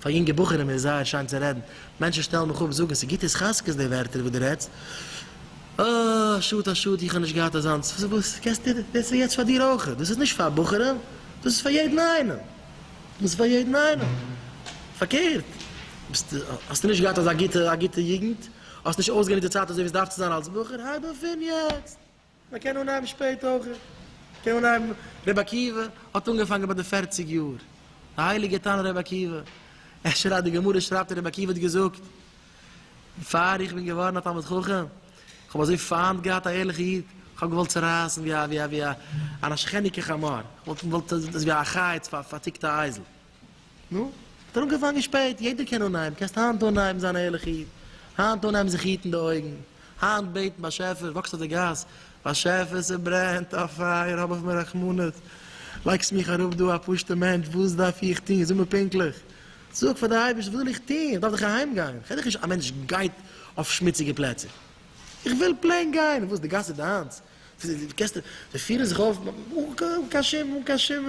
פאר יונגע בחורים איז זייער שיין צו רעדן, מענטשן שטעלן מיך אפ זאגן ס'גוט איז חזקות די ווערטער וואס דו רעדסט, אה א שאד א שאד איך האב נישט געהאט אזאנס, וואס קענסטו דאס איז יעצט פאר דיר אויך, דאס איז נישט פאר בחורים, דאס איז פאר יעדן איינעם, דאס איז פאר יעדן איינעם, פארקערט ביסט האסטו נישט געהאט אזא גוטע א גוטע יוגנט, האסט נישט אויסגענוצט די צייט אזוי ווי עס דארף צו זיין אלס בחור, הייב אויף פון יעצט. מען קען אנהייבן שפעט אויך, מען קען אנהייבן, רבי עקיבא האט אנגעפאנגען ביי די פֿערציק יאר, די הייליגע תנא רבי עקיבא, אפשר אז די גמרא שרייבט אז רבי עקיבא האט געזאגט, בעפאר איך בין געווארן א תלמיד חכם, איך האב אזוי פיינט געהאט א ערליכע איד, איך האב געוואלט צורייסן ווי א ווי א ווי א נשכניקע חמור, איך וואלט וואלט ווי א חיץ פארטיקט א אייזל. נו, האט ער אנגעפאנגען שפעט, יעדער קען אנהייבן, קענסט היינט אנהייבן זיין א ערליכע איד, היינט אנהייבן זיך היטן די אויגן, היינט בעטן באשעפער, וואקסט אויף די גאס, באשעפער ס'ברענט א פייער האב אויף מיר רחמנות, לייגסט מיך אראפ דא א פשוט'ע מענטש, וואס דארף איך טון, זאג מיר פונקטליך, זאג פאר די אייבערשטער וואס זאל איך טון, איך דארף דאך אהיים גיין, איך קען דאך נישט, א מענטש גייט אויף שמוציגע פלעצער, איך וויל פלעין גיין, וואס די גאס איז דיינס, די קענסט די פירן זיך אויף אן קיין שום אן קיין שום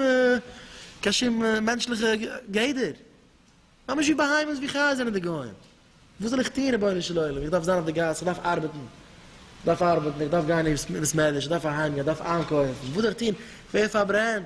קיין שום מענטשליכע גדר. ממש ווי בהמות ווי חיות זענען די גוים. וואס זאל איך טון רבונו של עולם, איך דארף זיין אויף די גאס, איך דארף ארבעטן, איך דארף ארבעטן, איך דארף גיין אין בית מדרש, איך דארף אהיים גיין, איך דארף איינקויפן, וואס זאל איך טון, ווער פארברענט.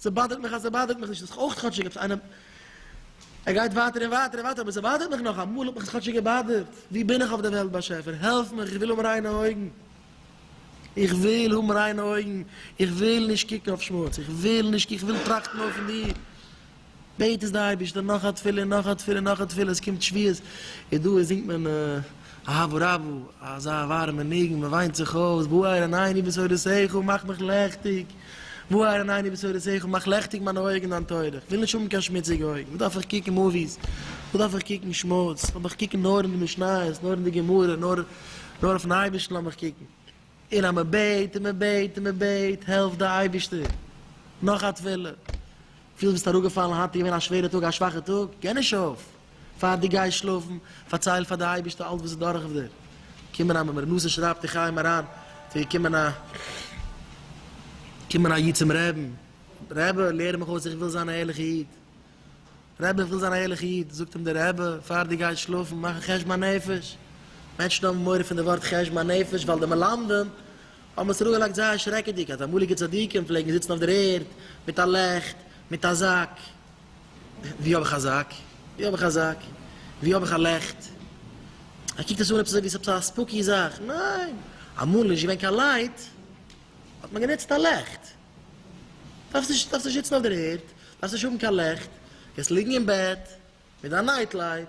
ס'באדערט מיך אז ס'באדערט מיך נישט, האט זיך אויך כאטשיג עפעס איינעם, ער גייט ווייטער און ווייטער און ווייטער, אבער ס'באדערט מיך נאך, אמאל האט מיך עס כאטשיג געבאדערט, ווי בין איך אויף דער וועלט באשעפער, העלף מיך, איך וויל האבן ריינע אויגן, איך וויל האבן ריינע אויגן, איך וויל נישט קוקן אויף שמוץ, איך וויל נישט, איך וויל טראכטן אויפן דיר. בעט עס די אייבערשטער, נאך א תפילה, נאך א תפילה, נאך א תפילה, עס קומט שביעות, איז דא, זינגט מען אהבו רבו, אזא ווארעמע ניגון, מען וויינט זיך אויס, בואי אריין אין עיני בשורותיך, מאך מיך לעכטיג, בואי אריין אין עיני בשורותיך, מאך לעכטיג מיינע אויגן דיין תורה, איך וויל נישט האבן קיין שמוציגע אויגן, וואס דארף איך קוקן מאוויס, וואס דארף איך קוקן שמוץ, לאמיך קוקן נאר אין די משניות, נאר אין די גמרא, נאר אויפן אייבערשטן לאמיך קוקן. און אז מען בעט און מען בעט און מען בעט העלפט די אייבערשטער, נאך א תפילה פילסט ביסט אראפגעפאלן היינט איז געווען א שווערע טאג א שוואכע טאג, גיי נישט אויף, פאר די גייסט שלאפן פארצייל פאר די אייבערשטער אלץ וואס איז דורך אויף דיר קומען א מר נושא שרייבט אין חיים אריין ס'איז געקומען א קומען א איד צום רעבן רבי לערן מיך אויס איך וויל זיין א ערליכע איד רבי איך וויל זיין א ערליכע איד, זאגט אים דער רבי, פאר דו גייסט שלאפן מאך א חשבון הנפש, מענטשן האבן מורא פון די ווארט חשבון הנפש ווייל די מלמדים האבן עס אראפגעלייגט זייער שרעקעדיג אז אמאליגע צדיקים פלעגן זיצן אויף דער ערד מיט א לעכט, מיט א זאק, ווי האב איך א זאק? ווי האב איך א זאק? ווי האב איך א לעכט? ער קוקט עס אן עפעס אזוי ווי עס איז עפעס א ספוקי זאך, ניין, אמאל איז נישט געווען קיין לייט האט מען גענוצט א לעכט. דארפסט נישט דארפסט נישט זיצן אויף דער ערד, דארפסט נישט האבן קיין לעכט, קענסט ליגן אין בעט מיט דיין נייט לייט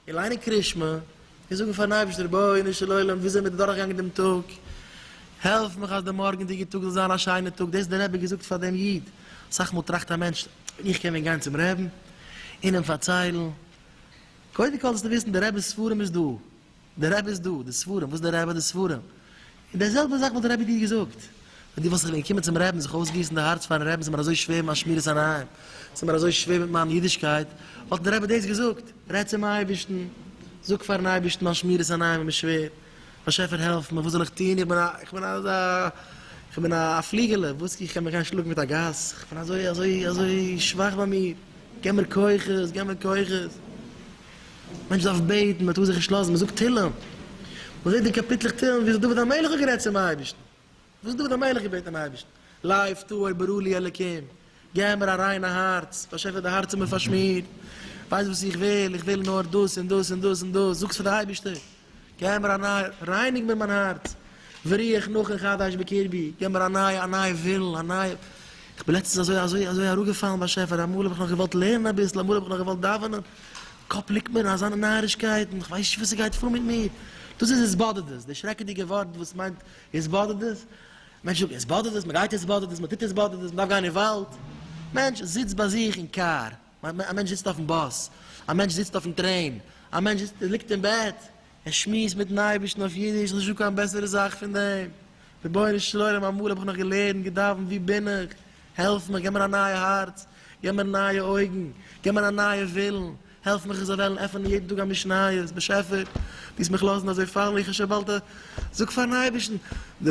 און ליינען קרישמע און זאגן פארן אייבערשטער רבונו של עולם ווי זעמיר דורכגעגאנגען דעם טאג, העלף מיך אז דער מארגענדיגער טאג זאל זיין א שיינער טאג, דאס האט דער רבי געזאגט פאר דעם איד, אסאך מאל טראכט א מענטש ווען איך קען ווען גיין צום רעבן און אים פארציילן, קודם כל זאלסטו וויסן דער רבינ'ס ספרים איז דא, די רבי איז דא, די ספרים, וואס די רבי, די ספרים. און די זעלבע זאך וואלט די רבי דיר געזאגט. ווען דו וואלסט זיך ווען געקומען צום רבי'ן זיך אויסגיסן די הארץ פארן רבי'ן, ס'מיר אזוי שווער מיט מיין שמירת עיניים, ס'מיר אזוי שווער מיט מיין אידישקייט, וואלט די רבי דאס געזאגט, רעד צום אייבערשטן, זאג פארן אייבערשטן מיין שמירת עיניים איז מיר שווער, באשעפער העלף מיר, וואס זאל איך טון, איך בין א, איך בין אזא, איך בין א פליגעלע, וואס, איך קען מיך גיין שלאגן מיט א גאס, איך בין אזוי, אזוי, אזוי שוואך ביי מיר, געב מיר כוחות, געב מיר כוחות. מען דארף בעטן, מען טאר זיך נישט לאזן, מען זאגט תהילים, מען זעט די קאפיטלעך תהילים וויאזוי דוד המלך האט גערעדט צום אייבערשטן, וואס דוד המלך האט געבעטן דעם אייבערשטן, לב טהור ברא לי אלקים, געב מיר א ריינע הארץ, באשעפער די הארץ איז מיר פארשמירט, ווייסט וואס איך וויל, איך וויל נאר דאס און דאס און דאס און דאס, זאגסט פאר די אייבערשטער. געב מיר א נייע, רייניג מיר מיין הארץ, וריח נכון חדש בקרבי, געב מיר א נייע, א נייע ווילן, א נייע, איך בין לעצטנס אזוי, אזוי, אזוי אראפגעפאלן באשעפער, אמאל האב איך נאך געוואלט לערנען אביסל, אמאל האב איך נאך געוואלט דאווענען, קאפ ליגט מיר אין אזאנע נארישקייטן, איך ווייס נישט וואס ס'גייט פאר מיט מיר, דאס איז התבודדות, די שרעקעדיגע ווארט וואס מיינט התבודדות, מענטש זאגט התבודדות, מ'גייט התבודדות, מ'טוט התבודדות, מ'דארף גיין אין וואלד, מענטש זיצט ביי זיך אין קאר. א מענטש זיצט אויפן באס, א מענטש זיצט אויפן טרעין, א מענטש זיצט, ליגט אין בעט, ער שמועסט מיטן אייבערשטן אויף אידיש, נישט דא קיין בעסערע זאך פון דעם, רבונו של עולם אמאל האב איך נאך געלערנט, געדאווענט, וואו בין איך, העלף מיך, געב מיר א נייע הארץ, געב מיר נייע אויגן, געב מיר א נייע ווילן, העלף מיך איך זאל וועלן עפענען יעדן טאג א משניות, באשעפער, דו וועסט מיך לאזן אזוי פאלן ווי איך שוין באלד, זאג פארן אייבערשטן, די.